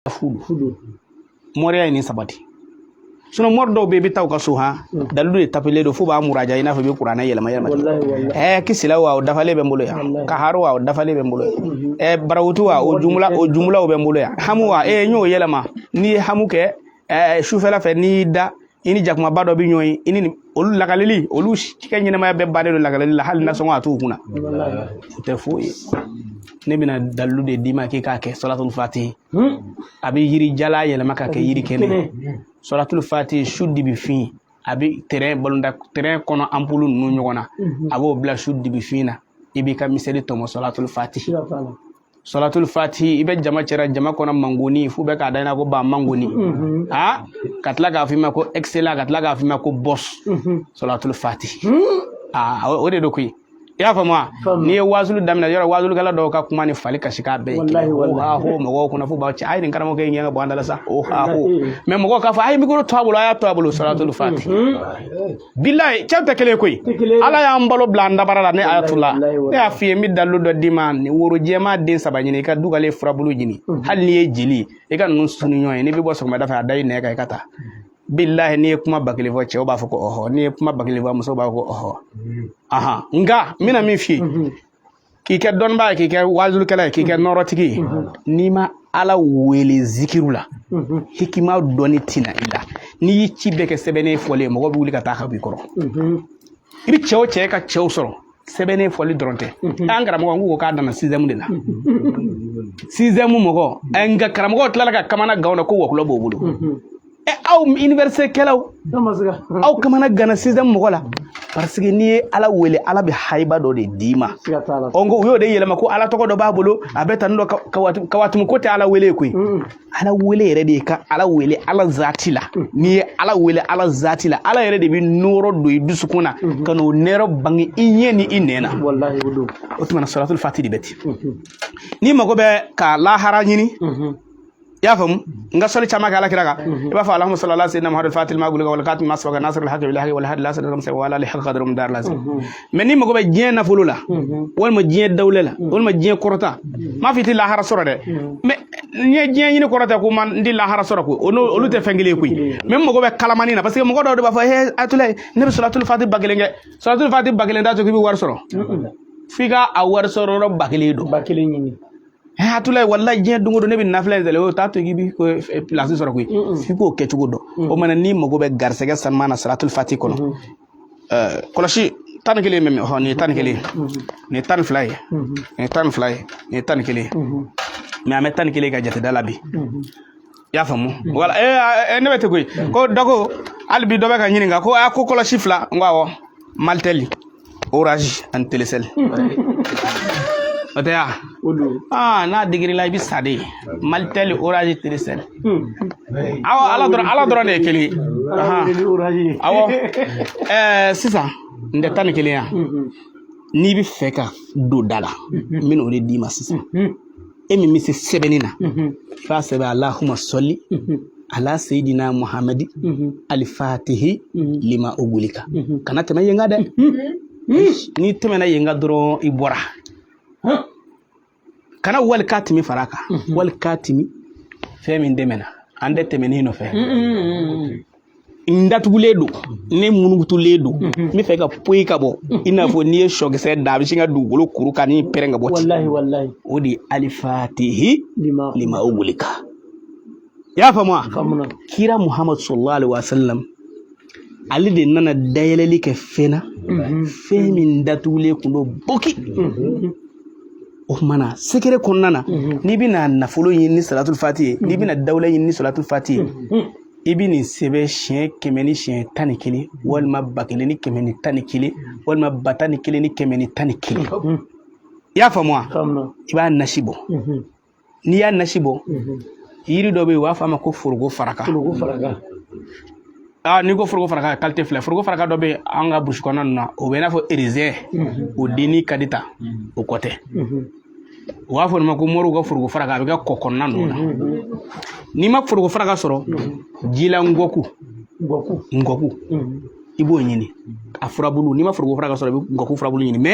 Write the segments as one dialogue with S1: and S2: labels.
S1: furu furu moriya ye nin sabati sinɔn mori dɔw bɛ i bɛ taa u ka so han dalilu de tapilen don f'u b'a muraja i n'a fɔ i bɛ kuranɛ yɛlɛma yɛlɛma ɛɛ kisila wa o dafalen bɛ n bolo yan kaharo wa o dafalen bɛ n bolo yan ɛɛ barawutu wa o jumla o jumlaw bɛ n bolo yan hamu wa ee n y'o yɛlɛma n'i ye hamu kɛ ɛɛ sufɛla fɛ n'i y'i da i ni jakumaba dɔ bɛ ɲɔgɔn ye i ni olu lakaleli olu kɛ ɲɛnamaya bɛɛ bannen don lakaleli la hali nasɔngɔ a t'u kunna o tɛ foyi ye ne bɛna dalilu de d'i ma k'i k'a kɛ salatul fati a bɛ yiri jalan yɛlɛma ka kɛ yiri kɛnɛ salatul fati su dibi fin a bɛ tɛrɛn balɔntan tɛrɛn kɔnɔ anpulu ninnu ɲɔgɔn na a b'o bila su dibi fin na i b'i ka miseli tɔmɔ salatul fati salatul fati i bɛ jama cɛra jama kɔnɔ mangoni f'u bɛ k'a da i na ko ba mangoni mhm. a ka tila k'a f'i ma ko excellence ka tila k'a f'i ma ko boss mhm. salatul fati hmm. a o de don koyi i y'a faamu wa n'i ye waazulu daminɛ yɔrɔ waazulikɛla dɔw ka kuma ni fali kasi k'a bɛɛ ye ohaho mɔgɔw kɔnɔ fo b'aw cɛ a ye nin karamɔgɔkɛ in gɛn ka bɔ an da la sa ohaho mais mɔgɔw k'a fɔ a ye mikoro to a bolo a y'a to a bolo salatul fati mhm. bilayi cɛw tɛ kelen koyi ala y'an balo bila an dabara la ne ayatula ne y'a f'i ye n bɛ dalilu dɔ d'i ma woro jɛman den saba ɲini i ka dugalen furabulu ɲini mhm. hali n'i ye jeli i ka ninnu sunu ɲɔgɔn ye n'i bɛ bɔ sɔgɔmada fɛ a da i nɛn kan i ka taa bilahi n'i ye kuma bakelen fɔ cɛw b'a fɔ ko ɔhɔ n'i ye kuma bakelen fɔ musow b'a fɔ ko ɔhɔ mhm. ahan nka n bɛna min f'i ye mhm. k'i kɛ dɔnnibaa ye k'i kɛ waazulikɛla ye k'i kɛ nɔrɔtigi ye n'i ma ala wele zikiru la hikima dɔnni tina i la n'i y'i ci bɛɛ kɛ sɛbɛnnen fɔli ye mɔgɔ bɛ wuli ka taa ka b'i kɔrɔ i bɛ cɛw cɛ ka cɛw sɔrɔ sɛbɛnnen fɔli dɔrɔn tɛ an karamɔgɔ ko k'a danna sizɛmu de la sizɛmu mɔgɔ nka karamɔgɔ tilala ka kamana gan ko wɔkulɔ b'o bolo ɛ aw université kɛlaw aw kamana ganna sizɛmu mɔgɔ la parce que n'i ye ala wele ala bɛ haiba dɔ de d'i ma ɔ nko u y'o de yɛlɛma ko ala tɔgɔ dɔ b'a bolo a bɛ tan dɔ kawatumu ko tɛ ala wele koyi ala wele yɛrɛ de ka ala wele ala zati la n'i ye ala wele ala zati la ala yɛrɛ de bɛ nɔrɔ don i dusukun na ka n'o nɔrɔ bange i ɲɛ ni i nɛn na o tuma na salatul fati de bɛ ten n'i mago bɛ ka lahara ɲini i y'a faamu n ka sɔli caman kɛ ala kira kan i b'a fɔ allahumma salli ala sayyidina muhammadu fatil ma gulika wal khatim ma sabaka nasr al haqi bil haqi wal hadi la siratikal mustaqim wa ala alihi haqqa qadrum dar lazim mais n'i mago bɛ diɲɛ nafolo la walima diɲɛ dawula la walima diɲɛ kɔrɔta n m'a f'i tɛ lahara sɔrɔ dɛ mais n'i ye diɲɛ ɲini kɔrɔta ko man n di lahara sɔrɔ ko olu tɛ fɛn kelen koyi mais mago bɛ kalamani na parce que mɔgɔ dɔw de b'a fɔ he ayatula ne bɛ salatul fati ba kelen kɛ salatul fati ba kelen t'a to k'i bɛ wari sɔrɔ f'i ka a wari sɔrɔ yɔrɔ ba kelen don ba kelen ɲini e atulayi walahi jɛ dongodo ne bɛ nafila in sɛlɛ o t'a to k'i bi ko pilasi sɔrɔ koyi f'i k'o kɛ cogo dɔn o mana n'i mago bɛ garisɛgɛ sanuma na salatul fati kɔnɔ kɔlɔsi tan ni kelen bɛ min ɔ nin ye tan ni kelen ye nin ye tan ni fila ye nin ye tan ni fila ye nin ye tan ni kelen ye mɛ an bɛ tan ni kelen ka jateda la bi i y'a faamu wala ee ne bɛ te koyi ko dɔ ko hali bi dɔ bɛ ka ɲininka ko a ko kɔlɔsi fila n ko awɔ malitɛli orange ani telecel o tɛ yan aa n'a digira i la i bɛ sa de malitɛli orange telecel awɔ ala dɔrɔn ala dɔrɔn de ye kelen ye awɔ ɛɛ sisan n tɛ tan ni kelen yan n'i bɛ fɛ ka don da la n bɛna o de d'i ma sisan e min bɛ se sɛbɛnni na i b'a sɛbɛn alahuma sɔli ala seyidina muhamadi alifatihi lima ogulika kana tɛmɛ yen kan dɛ n'i tɛmɛna yen kan dɔrɔn i bɔra kana walikatimi fara a kan walikatimi fɛn min tɛmɛna an tɛ tɛmɛnen nɔfɛ n datugulen don ne munugutulen don n bɛ fɛ ka poyi ka bɔ i n'a fɔ n'i ye sɔkisɛ dan a bɛ sin ka dugukolo kuru ka ni pɛrɛn ka bɔ ten walahi walahi o de ye alifatihi lima lima ogulika i y'a faamu wa faamuna kira muhammad sallallahu alaihi wa sallam ale de nana dayɛlɛli kɛ fɛn na fɛn min datugulen tun don boki o kumana sekere kɔnɔna na n'i bɛna nafolo ɲini ni salatul fati ye n'i bɛna dawula ɲini ni salatul fati ye i bɛ nin sɛbɛn siɲɛ kɛmɛ ni siɲɛ tan ni kelen walima ba kelen ni kɛmɛ ni tan ni kelen walima ba tan ni kelen ni kɛmɛ ni tan ni kelen i y'a faamu wa i b'a nasi bɔ n'i y'a nasi bɔ yiri dɔ bɛ yen u b'a fɔ a ma ko foroko faraka aa n'i ko foroko faraka kalite fila foroko faraka dɔ bɛ yen an ka burusi kɔnɔna ninnu na o bɛ i n'a fɔ erezɛn o denni ka di ta o ko tɛ u b'a fɔ nin ma ko moriw ka foroko faraka a bɛ kɛ kɔ kɔnɔna ninnu na n'i ma foroko faraka sɔrɔ jila ngɔku ngɔku i b'o ɲini a furabulu n'i ma foroko faraka sɔrɔ i bɛ ngɔku furabulu ɲini mɛ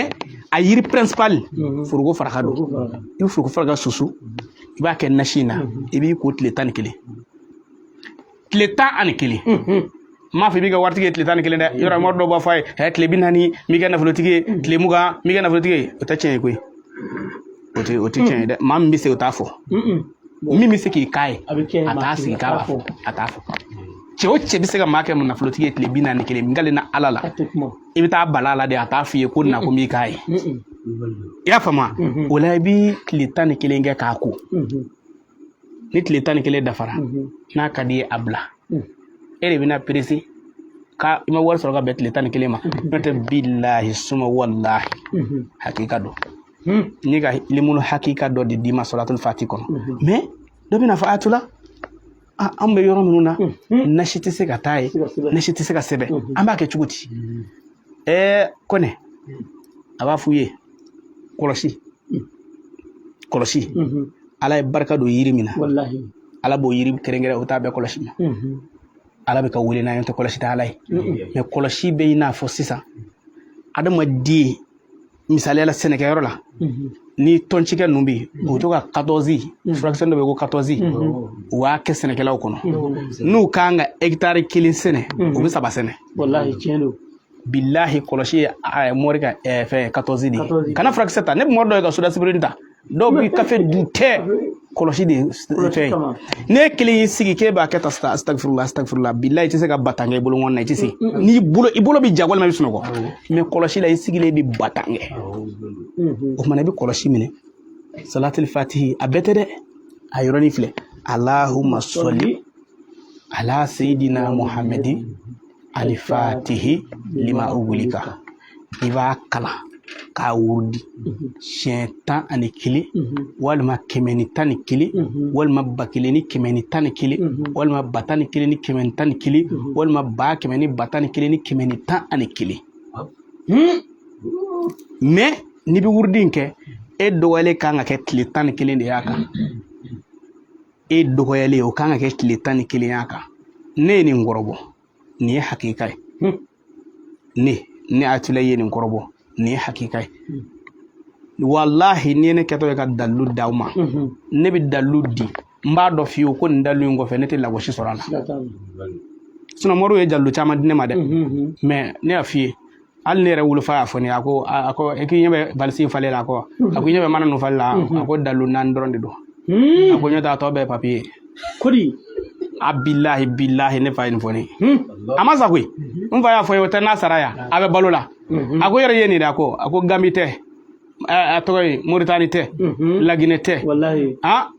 S1: a yiri principal foroko faraka don i bɛ foroko faraka susu i b'a kɛ nasi in na i b'i ko tile tan ni kelen tile tan ani kelen m'a fɔ i b'i kɛ waritigi ye tile tan ni kelen dɛ yɔrɔ mɔgɔ dɔw b'a fɔ a ye hɛ tile bi naani m'i kɛ nafolotigi ye tile mugan m'i kɛ nafolotigi ye o tɛ tiɲɛ ye koyi o tɛ o tɛ tiɲɛ ye dɛ maa min bɛ se o t'a fɔ min bɛ se k'i k'a ye a t'a sigi k'a b'a fɔ a t'a fɔ cɛ o cɛ bɛ se ka maa kɛ nafolotigi ye tile bi naani kelen min kale na ala la i bɛ taa bala a la de a t'a f'i ye ko na ko m'i k'a ye i y'a faamu o la i bɛ tile tan ni kelen kɛ k'a ko ni tile tan ni kelen dafara n'a ka di ye a bila e de bɛna perese ka i ma wari sɔrɔ ka bɛn tile tan ni kelen ma n'o tɛ bilahi suma walahi hakika don ne ka limunu hakika dɔ de d'i ma salatul fati kɔnɔ mɛ dɔ bɛna fɔ a tula an bɛ yɔrɔ minnu na nasi tɛ se ka taa yen nasi tɛ se ka sɛbɛn an b'a kɛ cogo di ɛɛ kɔnɛ a b'a f'u ye kɔlɔsi kɔlɔsi ala ye barika don yiri min na ala b'o yiri kɛrɛnkɛrɛn o t'a bɛɛ kɔlɔsi ma ala bɛ ka wele n'a ye tɛ kɔlɔsi tɛ ala ye mɛ kɔlɔsi bɛ i n'a fɔ sisan adamaden misali la sɛnɛkɛyɔrɔ la ni tɔncikɛ ninnu bɛ yen u bɛ to ka katɔzi furakisɛ dɔ bɛ ko katɔzi u b'a kɛ sɛnɛkɛlaw kɔnɔ n'u kan ka hegitari kelen sɛnɛ u bɛ saba sɛnɛ bilahi kɔlɔsi ye mɔri ka fɛn katɔzi de ye kana furakisɛ ta ne bɛ mɔri dɔ ye ka sodasibiri ta dɔw bɛ kafe dun tɛ kɔlɔsi de fɛn n'e kelen y'i sigi k'e b'a kɛ tan sisan asitagifirula asitagifirula bilayi i tɛ se ka ba tan kɛ i bolonkɔni na i tɛ se n'i bolo i bolo bɛ ja walima i bɛ sunɔgɔ mɛ kɔlɔsi la i sigilen bɛ ba tan kɛ o tuma na i bɛ kɔlɔsi minɛ salatili fatihi a bɛɛ tɛ dɛ a yɔrɔnin filɛ alahuma sɔli ala sayidina muhammadin alifatihi lima ugulika i b'a kalan k'a wurudi siɲɛ tan ani kelen walima kɛmɛ ni tan ni kelen walima ba kelen ni kɛmɛ ni tan ni kelen walima ba tan ni kelen ni kɛmɛ ni tan ni kelen walima ba kɛmɛ ni ba tan ni kelen ni kɛmɛ ni tan ani kelen mɛ n'i bɛ wurudi in kɛ e dɔgɔyalen kan ka kɛ tile tan ni kelen de y'a kan e dɔgɔyalen o kan ka kɛ tile tan ni kelen y'a kan ne ye nin kɔrɔbɔ nin ye hakika ye ne ne atula ye nin kɔrɔbɔ nin ye hakika ye walahi n'i ye ne kɛtɔ ye ka dalu d'aw ma ne bɛ dalu di n b'a dɔn fiyewu ko nin dalu in kɔfɛ ne tɛ lagosi sɔrɔ a la sinɔn mɔriw ye dalu caman di ne ma dɛ mɛ ne y'a f'i ye hali ne yɛrɛ wolofa y'a fɔ ne ye a ko a ko e k'i ɲɛ bɛ valisi in falen la a ko a ko i ɲɛ bɛ mana ninnu falen la a ko dalu naani dɔrɔn de don a ko n'o t'a tɔ bɛɛ papiye kodi a bilahi bilahi ne fa ye nin fɔ ne ye a ma sa koyi n fa y'a fɔ n ye o tɛ n'a sara yan a bɛ balo la a ko yɛrɛ ye nin de a ko a ko gambi tɛ a tɔgɔ ye moritani tɛ laginɛ tɛ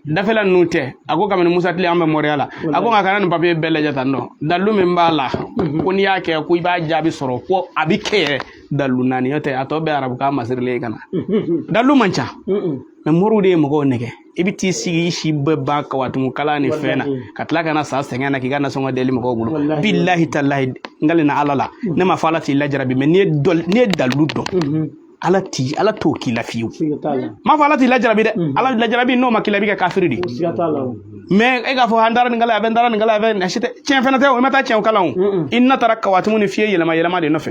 S1: dafɛla ninnu tɛ a ko kabini musa tile an bɛ mɔriya la a ko nka kana nin papiye bɛɛ lajɛ tan nɔ dalu min b'a la ko n'i y'a kɛ ko i b'a jaabi sɔrɔ ko a bɛ kɛ yɛrɛ dalu naani n'o tɛ a tɔ bɛɛ arabukan masirilen ye ka na dalu man ca mɛ moriw de ye mɔgɔw nɛgɛn i bɛ t'i sigi i si bɛɛ ban kawatumu kala ni fɛn na ka tila ka na sa sɛgɛn na k'i ka nasɔngɔ deli mɔgɔw bolo bilahi talahi n kalen ala la ne ma fɔ ala t'i lajarabi mɛ n'i ye dalu dɔn ala ti ala t'o k'i la fiyewu m'a fɔ ala t'i lajarabi dɛ ala lajarabi n'o ma k'i la i bɛ kɛ kafiri de ye mais e k'a fɔ an taara nin kalan a bɛ n taara nin kalan a bɛ nin si tɛ tiɲɛ fana tɛ o i ma taa tiɲɛw kalan o i na taara kawatimu ni fɛn yɛlɛma yɛlɛma de nɔfɛ